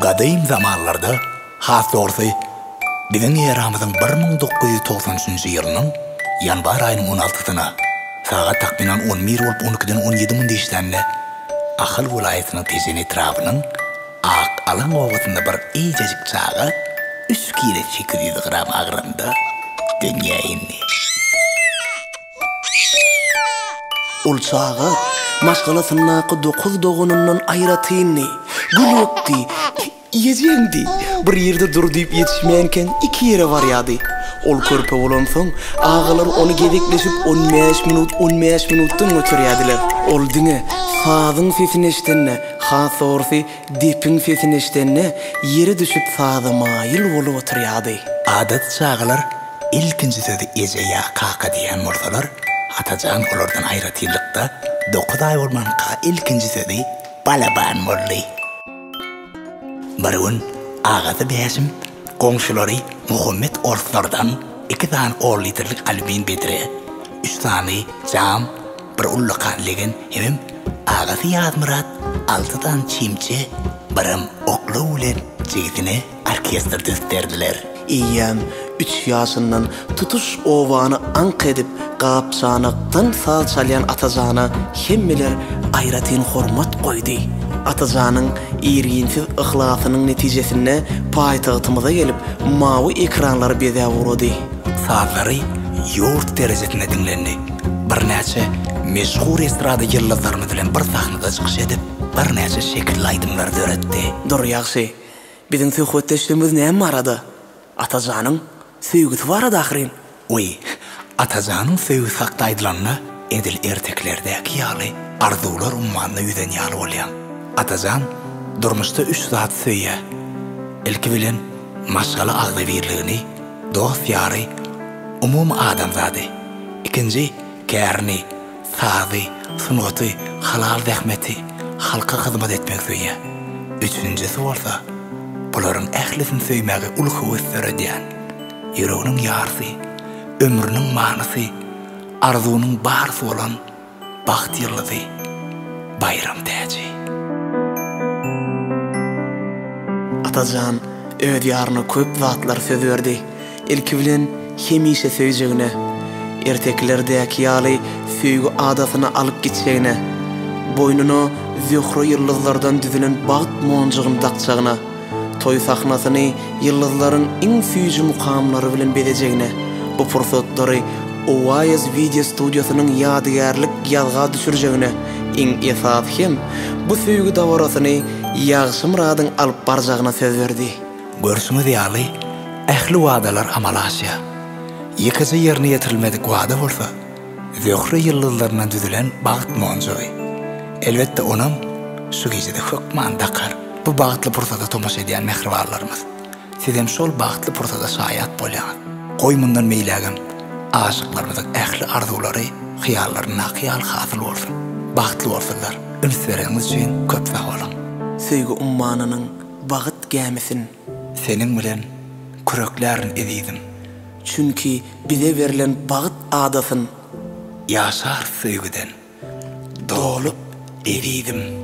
Gadym zamanlarda, has dogrusy, biziň eramyzyň bir müň dokuz ýüz togsan üçünji ýylynyň ýanwar aýynyň on altysyna, sagat takmynan on bir bolup on ikiden on ýedi mundy işlände, Ahal welaýatynyň Tejen etrabynyň Ak alaň obasynda bir eýjejik çaga üç kile sekiz ýüz gram agramda dünýä indi. Ol çaga maşgalasyndaky dokuz doganyndan aýratyndy. Gülüpdi, Ejeňdi, bir ýerde dur diýip ýetişmänkäň iki ýere barýardy. Ol körpe bolansoň, agalary ony gezekleşip on bäş minut, on bäş minutdan göterýärdiler. Ol diňe sazyň sesini eşidende, Has dogrusy, depiň sesini eşidende, ýere düşüp saza maýyl bolup oturýardy. Adaty çagalar ilkinji sözi eje ýa kaka diýen bolsalar, Atajan olardan aýratynlykda, dokuz aý bolmanka ilkinji sözi balaban boldy. Bir gün agasy Bäşim Goňşulary Muhammet orslardan iki sany on litrlik alýumin bedre, üç sany jam, bir ullakan legen hemem agasy Ýazmyrat alty sany çemçe, birem oklaw bilen jigisine orkestr dösderdiler. Eýýäm üç ýaşyndan Tutuş obany aňk edip, gap-çanakdan saz çalýan Atajana hemmeler aýratyn hormat goýdy. Atajanyň irginsiz yhlasynyň netijesinde paýtagtymyza gelip, mawy ekranlary bezäp ugrady. Sazlary ýurt derejesinde diňlendi. Birnäçe meşhur estrada ýyldyzlarymyz bilen bir sahnada çykyş edip, birnäçe şekilli aýdymlary döretdi. Dur, ýagşy, biziň söhbetdeşligimiz näme barada? Atajanyň Söýgüsi barada ahyryn. Oý, Atajanyň söýgüsi hakda aýdylanda, edil ertekilerdäki ýaly arzuwlar ummanda ýüzen ýaly bolýaň. Atajan durmuşda üç zat söýýär. Ilki bilen, maşgala agzybirligini, dost-ýary, umumy adamzady. Ikinji, kärini. Sazy, sungaty, halal zähmeti, halka hyzmat etmegi söýýän. Üçünjisi bolsa, bularyň ählisini söýmäge uly höwes döredýän. Ýüreginiň ýarsy, ömrüniň manysy, arzuwynyň barysy bolan bagt ýyldyzy Baýram Täji. Atajan öz ýaryna köp zatlar söz berdi. Ilki bilen hemişe söýjegine, ertekilerdäki ýaly söýgi adasyna alyp gitjegine, boýnuna Zöhre ýyldyzlardan düzülen bagt monjugyny dakjagyna, toý sahnasyny ýyldyzlaryň iň süýji mukamlary bilen bezejegine, bu pursatlary Oasis wideo studiýasynyň ýadygärlik ýazga düşürjegine, iň esasy hem, bu söýgi dabarasyny Ýagşymyradyň alyp barjagyna söz berdi. Görşüňiz ýaly, ähli wadalar amala aşýar. Ýekeje ýerine ýetirilmedik wada bolsa, Zöhre ýyldyzlaryndan düzülen bagt monjugy. Elbetde, onam şu gijede hökman dakar. Bu bagtly pursada tomaşa edýän mähribanlarymyz, sizem şol bagtly pursada şaýat bolýaňyz. Goý, mundan beýlägem aşyklarymyzyň ähli arzuwlary, hyýallaryndaky ýaly hasyl bolsun! Bagtly bolsunlar! Üns bereniňiz üçin köp sag boluň! Söýgi ummanynyň bagyt gämisin. Seniň bilen küreklärin ezizim. Çünki bize berlen bagyt adasyn. Ýaşarys söýgüden dolup ezizim.